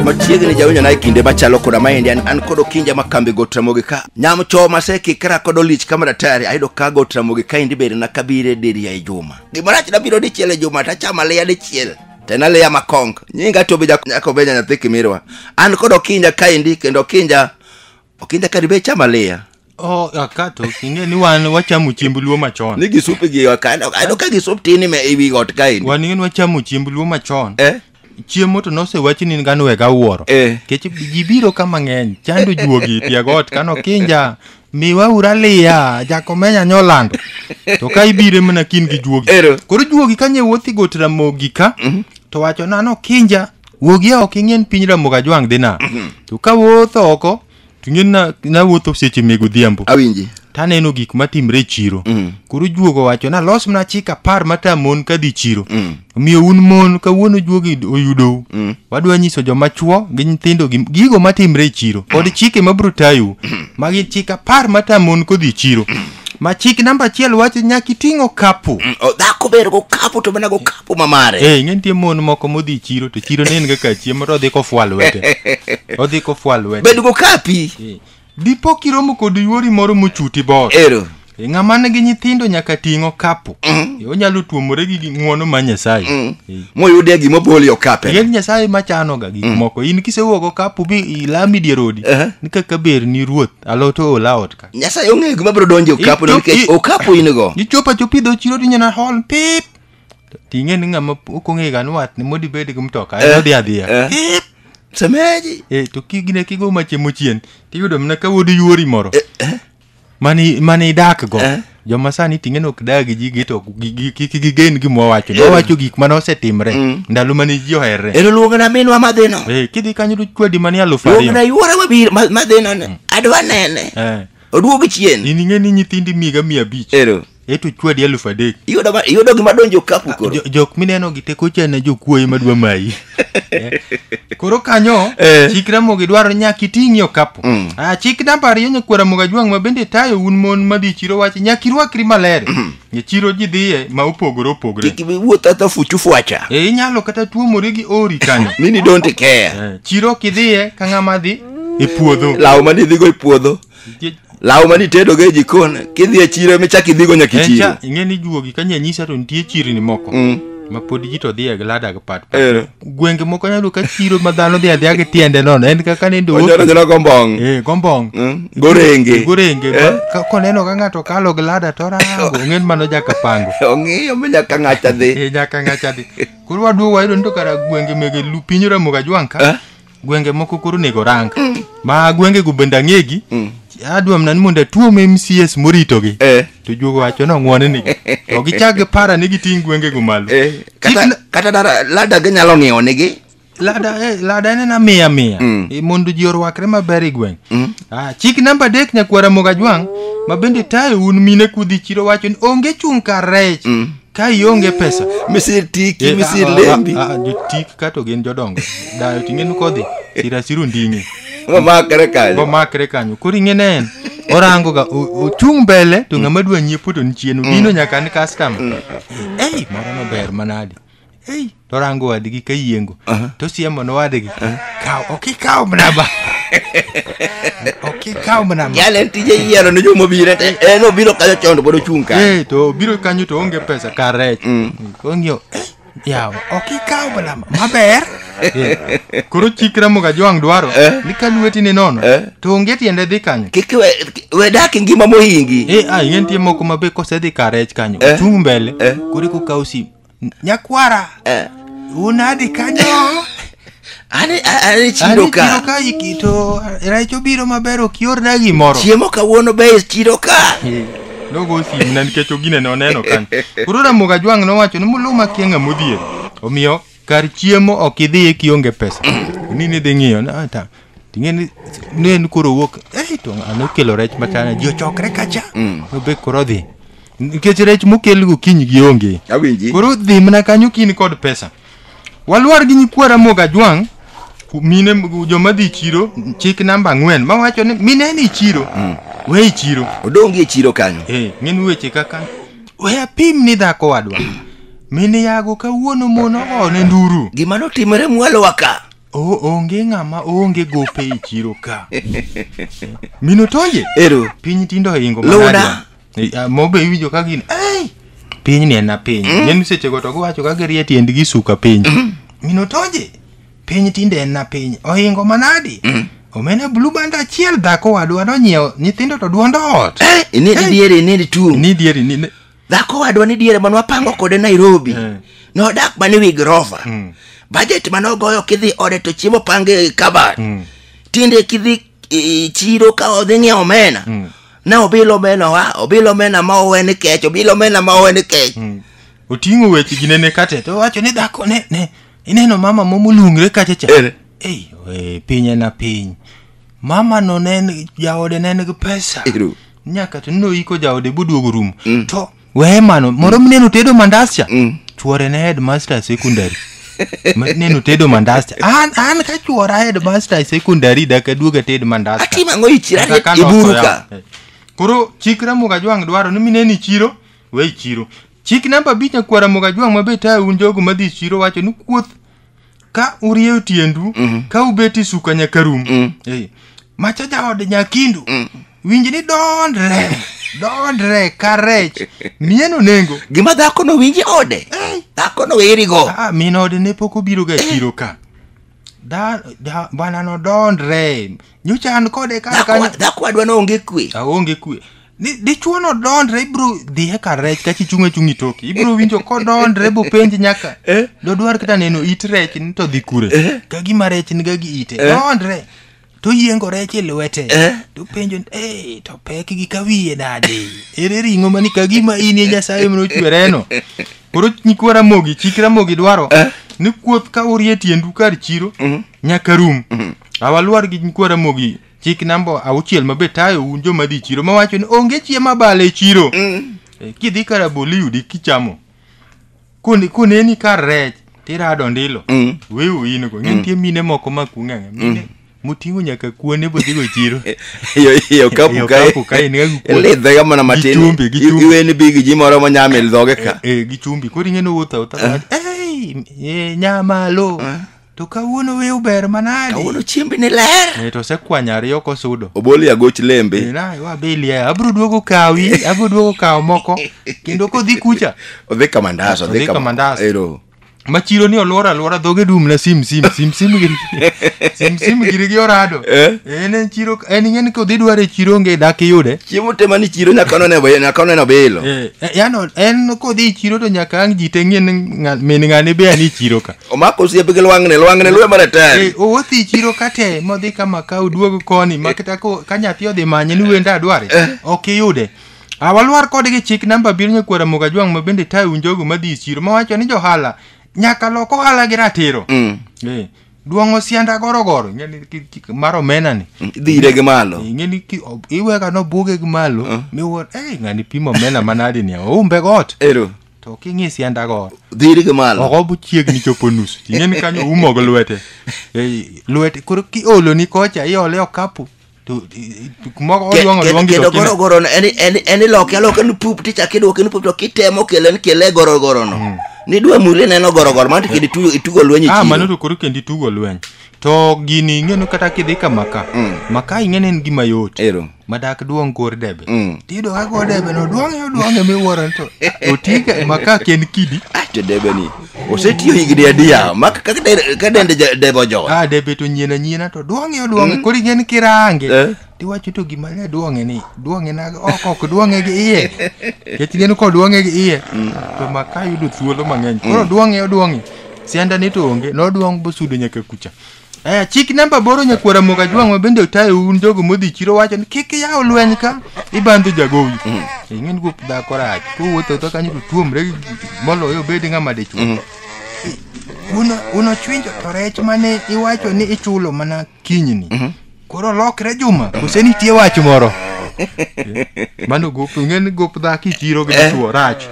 machiegni jawinjo naye kinde machalo koda maendi an, an kod okinja ma kambi got ramogi ka nyam choo masekikra kod olich kama datari ayudo ka got ramogi ka endi bende nakabire diriya e juma gimarach nabiro dichiel e juma tachama leya dichiel tena leya makong nyinga tobe nyakobenya nyathi kimirwa an kod okinja kaendi kendo okinja okinda kari be chama liya Oh, akato ing'e ni wan wachamo chiemb luo machon ni gisup gi okando kando ka gisup tin ime ewi got kaendi wan ing'e ni wachamo chiemb luo machon eh chiemo to nosewachi ni ngano wega wuoro Eh. kech ji biro ka mang'eny chando juogi tiagot kano kinja miwa ura liya jakomenya nyolando to ka ibire mana kin gi juogi Ero. koro juogi kanye wuothi got ramogi ka to wacho nano kinja wuogi oko ing'en piny ramogi ajwang' dhi na mhm. to ka wuotho oko to ing'en na, na wuotho seche meg odhiambo awinji to aneno gik matimre e chiro mm. koro juogo wacho na los mana chik apar mata mon ka dhi chiro mm. omiyo un mon kawuono juogi oyudou mm. wadwa nyiso joma chuo gi nyithindo gigo matimre e chiro kod chike mabiro tayu ma gin chik apar mata mon kodhi chiro ma chik namba achiel wacho nyaka iting' okapu Mm, o, dhako ber gokapu to mana gokapu mamare Eh, ing'e nitie mon moko modhi chiro to chiro ne en kaka chiemo to odhi kofwal lwete odhi kofwal lwete bed gokapi Eh, dipo kiromo kod yuori moro mochuti bor ero Eh, ng'ama nigi nyithindo nyaka ting' okapu Eh, onyalo tuomore gi gi ng'wono ma nyasaye Eh, moyude gima boli okape Ing'e ni nyasaye machanoga gik moko in kisewuok okapu bi ilami dier odi Aha. ni kaka ber ni ruoth alot ool aot ka nyasaye ong'eyo gima biro donjo e okapu Ito- nikech i- okapu in go ichopo achopo idho chiro tinyana hol pip To ting'e ni ng'ama ok ong'e ga ni wat ni modi bed gi mtoka Eh, en odhi adhiya eh. pip semeji e to kigine kigo machiemo chien tiyudo mana ka wuod yuori moro mani mani idak go Eh. joma sani ting'e nok dag ji gi to gi- gi- kik gigen gima wawacho Yeah. wawacho gik mane osetimre Mm. ndalo mane ji oherre ero luongna minwa madhino Eh, kidhi kanyo to chwadi mane alufu ariyo luongna yuora mabiro ma- madhino ni adwa nene Eh, oduog chien in ing'e ni nyithindi miga mia abich ero eto chwadi alufu adek iyudo ma- iyudo gima donjo kapu koro Jo- jok mineno gi teko chana jokuoye madwa mayi Eh, koro kanyo Eh. chik ramogi dwaro nyaka iting'ie okapu Mm. Ah, chik namba ariyo nyakwara moga jwang' ma bende tayo un mon madhi chiro wacho nyaka irwakri maler e chiro ji dhiye ma opogore opogore kik iwuoth ata fuchu fwacha e inyalo kata tuomori gi ori kanyo mini don't care Eh, chiro kidhiye ka ng'ama dhi e puodho law mane idhigo e puodho Nikech law mane itedogo e jikon kidhi e chiro michak idhigo nyaka e en chiro cha ing'e ni juogi ka nyanyisa to nitie chirni moko Mm. ma pod ji to dhiye gi lada gi pat pat. Eh. gwenge moko nyalo ka chiro ma dhano dhi adhiya gi tiende nono en kaka nende onyalo oki nyalo gombong eh gombong Mm. gorenge gorenge Eh. ma- ka- koneno ka ng'ato kalo gi lada to rango ong'en mano jaka pango ong'iyo mi nyaka ng'acha dhi eh nyaka ng'acha dhi koro waduogo wayudo ni to kara gwenge mege lu piny ramoga jwang ka Eh. gwenge moko koro onego orang ma gwengego bende ang'egi adwa mana ni mondo atuom mcs moritogi Eh. to juogo wacho nong'wone nigi to gichak gipara ni giting' gwengego malo Eh, Chik kata, na- kata dara lada ginyalo ng'iewo nigi lada eh, lada en ena miya miya Mm. Eh, mondo ji orwakre maber e gweng Ah, chik namba adek nyakwara mogajwang' ma bende tayo un mine kudhi chiro wacho ni onge chung' kar rech ka ionge pesa misitiki Eh, misilembi ah, ah, ah, jotik kato gin jodongo dayo ting'enu kodhi sirasiru nding'e mamakre kanyo bomakre kanyo koro ing'e ne en orango ga o- ochung' mbele to ng'ama dwa nyiepo to ni chien odino nyaka ni customer ei moro no ber manade ei torango wadgi ka yiengo tosiemo ne wadgi kaw ok ikaw mnaba ok ikaw mnaba Yale en tije yiero ne joma obiro te. En obiro kayo chondo pod ochung' ka. Eh, to biro kanyo to onge pesa kar rech kong'io yawa ok ikaw mnaba maber Eh, koro chikra moga jwang' dwaro ni ka lweti ni nono to onge tiende dhi kanyo Kik we we dak e ngima mohingi. Eh, ah, yie nitie moko ma be kosedhi kar rech kanyo ochung' mbele koro eka okaw sim Nyakwara. Eh. Unadi kanyo. Ani ani chido ka. Ani chido ka ikito. Raicho biro maber ok yorna gimoro. Chiemo kawuono be chido ka. Eh, nogo simu na nikech ogine ne oneno kanyo. Koro Ramoga Jwang' nowacho ni muluma kienga modhier. Omiyo kar chiemo ok idhi e kionge pesa. Ni ni dhi ng'iyo na ta. Ting'e ni ne en koro wuok eh to ng'ano okelo rech machana ji ochokre kacha. Mm. Nobe koro dhi. Nikech rech mokel gokinyi gi onge. Awinji. Koro dhi mana kanyo kini kod pesa. Walwar gi nyikwara moga jwang' ku- mine m- joma dhi chiro chik namba ang'wen ma wacho ni mine ni chiro we i chiro Odongi e chiro kanyo. eh ng'en weche kaka we apim ni dhako wadwa mine yago kawuono mon ogone nduru Gima notimore mwalowa ka. O, onge ng'ama oonge gope e chiro ka. Mino tonje? Ero. Piny tindo ohingo Luna. manade. Eh, ah, Mobe iwinjo ka gin. Ei! Piny ni en na piny. Mm. Nyen seche go to giwacho ka girie tiendgi suka piny. Mino tonje? Piny tinde en na piny. Ohingo manadi. Omena blue band achiel dhako wadwa nonyiewo nyithindo to duondo ot. Inedi diere, inedi tuo. Ni dieri ni. ni- dhako wadwa ni diere mane wapango kode nairobi Eh. nodak mane wi grova Mm. bajet mane ogoyo kidhi ode to chiemo pange kabat Mm. tinde kidhi e, chiro ka odhi ng'iewo omena Mm. ne obilo omena wa obilo omena ma owe ni kech obilo omena ma owe ni kech Mm. oting'o weche gi nene kate to owacho ni dhako ne ne ineno mama momulungre kacha cha Ere. ei oe, piny en a piny mama no ne en- jaode ne en gi pesa Ero. nyaka to noiko jaode boduogo rum mm. to weye mano moro mm. neno tedo mandas cha mm. chuore ne headmaster secondary neno tedo mandas cha an, an ka chuora headmaster secondary daka duoga ted mandas atimango ichira iburuka eh. koro chik ramuga jwang dwaro ni mineni chiro we chiro chik namba abich akwara muga jwang mabe tayo un jogo madhi chiro wacho ni kuoth ka urieyo tiendu ka ubeti suka nyaka rum Eh, macha jaode nyakindu winj ni dondre dondre ka rech mieno nengo gima dhako no winje ode dhako no werigo Ah, min ode ne pok obiro ga chiro ka Da- da- bwana no dondre nyocha an kode ka dhako kane- dhako adwa no onge kwe aonge kwe Di- dichuo no dondre ibro dhiye ka rech kachi chung' achung' itoki ibro winjo kodondre bopenj nyaka Eh? dodwar kata neno it rech ni to dhi kure Eh? ka gima rech niga gi ite Eh? dondre to yiengo rech e lwete Eh? to penjo ni, "Eh, to pek gi ka wiye nade ere ring'o mani ka gima in e nyasaye mane ochwereno koro nyikwa ramogi chik ramogi dwaro Eh? ni kuoth ka urie tiendu kar chiro Mhm. nyaka rum awalwar gi nyikwa ramogi chik namba auchiel ma be tayo un joma dhi chiro ma wacho ni onge chiemo abala e chiro mm. e, kidhi ka rabolo iyudi kichamo koneni kar rech tirado ndilo mm. wewu in go ng'e nitie mm. mine moko ma kung'ang'e mm. mine moting'o nyaka kuone bodhigo chiro yo kapu kae lidhega mana matin iweni bi gi ji moro monyame e dhoge ka e, e, gi chumbi koro ing'e nowuotho awuotha nyamalo To kawuono wiu ber manadi. Kawuono chiembi ni ler. Eh, to osekwanyo ariyo kosudo. Oboli agoch lembe. Eh, na wa beli ya. Abro duogo kawi, abro duogo kawo moko. Kendo kodhi kucha. Odhi kamandas, odhi kamandas. Ero. Machiro ni olwora alwora dhoge dum na sim sim sim sim giri sim sim giri gi orado eh? en en chiro en ng'en kodhi dware chiro nge dak iyude chiemo tema ni chiro nyaka none be nyaka none bilo eh, eh yano en kodhi chiro to nyaka ang jite ng'en min ng'ani be ani chiro ka omako osiepe gi lwang'ni lwang'ni lwe mar atari Eh, owuothi i chiro kate modhi ka maka oduog koni ma kata ko- ka nyathi odhi manye ni wenda adware ok iyude awalwar kode gi chik namba abiriyo nyakwara moga jwang' ma bende tayo njogo madhi i chiro mawacho ni johala nyaka lok ohala gi ratiro Mm. Eh, duong'o sianda gorogoro ing'eni ki- ki- mar omena ni dhire gi malo ing'eni ki- o- iwega nobuge gi malo miwuor ei ng'ani pimo omena manadi ni oumbe got ero to king'i sianda go dhiri gi malo oko bu chiegni chopo nus ing'e ni kanyo umo gi lwete Eh, lwete koro kiolo ni kocha iole okapu to i- i- kumoro Ke- oluong ke- oluong gi kendo to kine- gorogoro no, en- en- en iloke aloke ni pup tichak iduoke ni pup to kitemo kele ni kele e gorogoro no nidwa muli neno gorogoro mano to kendo itugo- itugo lweny e ah mano chiro to koro kendi tugo lweny To gini ing'eno kata kidhi ka maka. Mm. Maka ing'eno en gima yot. Ero. Madak duong' kor debe. Mm. Tido ka kor debe no duong' yo duong' e miwuoro to. Otiga maka ken kidi. Ah, to debe ni. Osetiyo higni adiya. Maka kaka de- ka dende ja- debe ojowa. Ah, debe to nyien anyina to duong' yo duong'. Mm. Koro ing'en kirange. Eh. tiwacho to gima ne duong'e ni duong'e na ok ok duong'e gi iye kech gin ko duong'e gi iye to maka yudo thuolo mang'eny koro duong'e oduong'e sianda ni to onge noduong' bosudo nyaka kucha Eh, chik namba boro nyakwara moga jwang' ma bende otayo un jogo modhi chiro wacho ni kik yaw lweny ka ibandho jagowi ing'e ni gup dhako rach kowuotho to kanyo to tuomre gi- moloyo obed ng'ama dichwo uno uno chwinjo to rech mane iwacho ni ichulo mana kinyni Mhm. koro lokre juma kose nitie wach moro mano gop ing'e ni gop dhaki chiro gi Eh. dichuo rach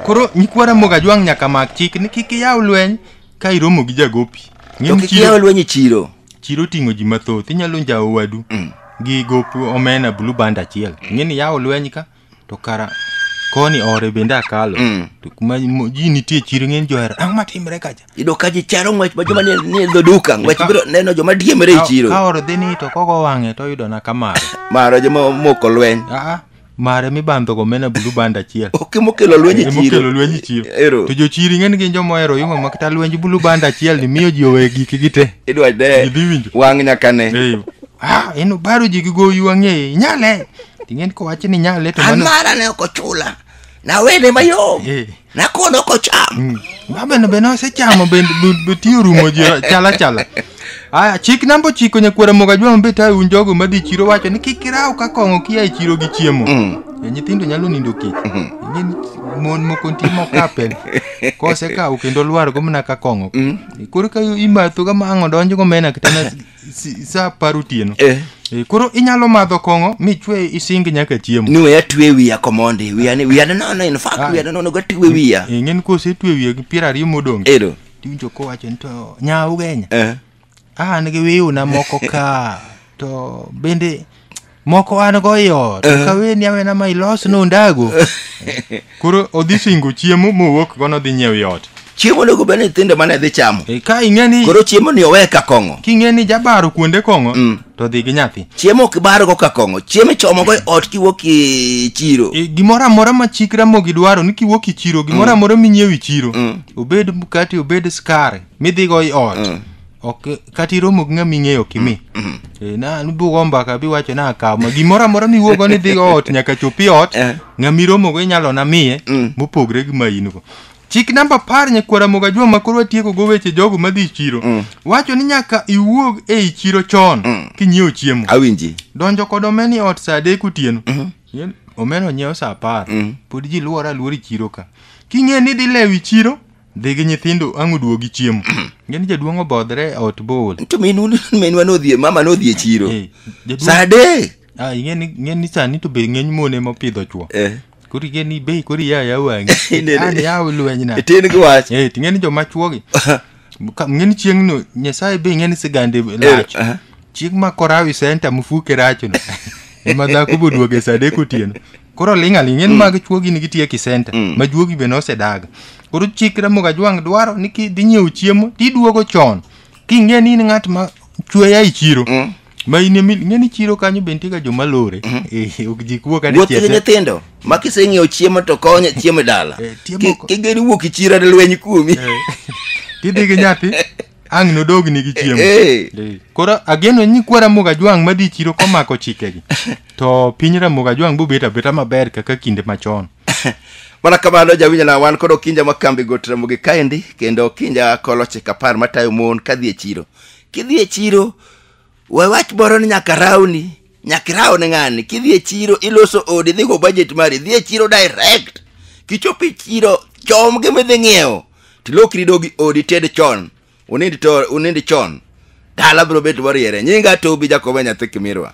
koro nyikwa ramoga jwang' nyaka mak chik ni kik iyaw lweny ka iromo gi jagopi Ing'e to ni kik chiro- iyaw lweny e chiro chiro oting'o ji mathoth inyalo njawo wadu gi gop omena blue band achiel ing'e ni yawo lweny ka to kara koni ore bende akalo Mm. to kuma mo- ji nitie chiro ng'eny johera ang'o matimre kacha Iyudo ka ji charo ng'wech ma joma nie nie dho duka ng'wech Ka- biro neno joma diemre e Ka- ka chiro. oro dhi ni to kogo wang'e to oyudo na kamare Mara joma moko lweny. aa mare mibandho go mena bulu band achiel Ok mokelo lweny e chiro. emokelo lwenj chiro Ero. to jochiri ng'eny gin joma ohero yuma makata lwenj bulu band achiel ni miyo ji owe giki gite Idwa de Idhi winjo. wang' nyaka ne. Eh, ah, en obaro ji gi goyu ang'eye inyale Ting'en kowachi ni nyale to an mano. mara ne ok ochula nawene mayom Eh. nakono ok ocham Babeno be nosechamo bende bu- bu- tiyo rumo ji chala chala. Aya, chik namba ochiko nyakwara moga jwa mabe tayo un jogo madhi e chiro wacho ni kik iraw ka kong'o kia e chiro gi chiemo. E, nyithindo nyalo nindo kech. Ing'e ni mon moko nitie mokapel. Kosekawo kendo lwar go mana ka kong'o. E, Koro ka imatho ga mang'o donjo go mena kitana si- sa par otieno Eh. Eh, koro inyalo madho kong'o michwe ising nyaka chiemo ni weya twe wiya komondi wiya ni wiya nono in fact Ah. wiya nono ga twe wiya Eh, ng'en kosetwe wiye gi piero ariyo modong ero tiwinjo kowacho ni to nya ugenya eh an gi wiyuna moko ka to bende moko an go i ot Eh. kaweni awena ma ilos nondago koro odhi singo chiemo mowuok go nodhi nyiew yot chiemo onego bed ni nyithindo mane dhi chamo e, ka ing'e ni koro chiemo ni owe ka kong'o king'e ni jabaro kuonde kong'o Mm. to dhi gi nyathi chiemo ok bargo ka kong'o chiemo ichomogo e ot kiwuok e chiro e, gimoro amora ma chik ramogi dwaro ni kiwuok i chiro gimoro amora minyiew i chiro Mm. obed mkati obed skari midhigo i ot Mm. ok kata iromo gi ng'ama ing'eyo kimi Eh, na nubugo mbaka biwacho na akaw ma gimoro amora miwuogo ni dhi ot nyaka chopi ot Eh. ng'ama iromogo inyalo na miye Mm. mopogre gi ma in go chik namba apar nyakwara moga juma ma koro watieko go weche jogo madhi chiro Mm. wacho ni nyaka iwuog ei chiro chon Mm. kinyiewo chiemo awinji donjo kod omena e ot saa adek otieno Yel- omena onyiewo saa apar Mm. pod ji luwore aluora e chiro ka king'e ni dhi lewo i chiro Dhi gi nyithindo ang' uduogi chiemo. Ngeni jaduong' obodhre e ot bool. To minu minwa nodhi e- mama nodhi e chiro. Eh, jaduong'- Sa adek. Ah, ing'eni ing'eni sani to be ng'eny mon ema opidho chwo. Eh. Koro ing'eni bei koro iya ya wang'i. Inene. An yaw lweny na. Tin gi wach. Eh, to ing'eni joma chwogi. Ka- Ing'eni chieng'no Nyasaye be ing'eni sigande lach. aha. Chieng' ma korawi senta mufuke rachno. Ema dhako boduoge sa adek otieno. koro ling' aling' en mag chuo gini gitiyo e kisenta ma juogi be nosedaga koro chik ramoga jwang' dwaro ni kidhi nyiewo chiemo tiduogo chon king'e ni in ng'at ma chueya e chiro ma in emi ing'e ni chiro kanyo be nitiega joma lore Eh, ok ji kuo kata wuoth gi chiete nyithindo ma kiseng'iewo chiemo to konyo chiemo e dala Eh, chiemo Ki- ko- kigeri wuok ichira lweny kuomi tidhi gi nyathi ang' nodogni gi chiemo Eh, Eh, koro ageno ni kwa ramoga jwang' madhi chiro komako chikegi to piny ramoga jwang' bobet abeta maber kaka kinde machon mana kamano jawinjona wan kod okinja ma kambi got ramogi kaendi kendo okinja koloche kapar matayo mon kadhi e chiro kidhi e chiro we wach moro ni nyaka rawni nyaka iraw ne ng'ani kidhi e chiro iloso odi idhi go budget mari idhi e chiro direct kichopo e chiro chom gi midhi ng'iewo tilokri ido gi odi ted chon unindi to unindi chon dala biro bet moriere nyinga tobi jakoba nyathi kimirwa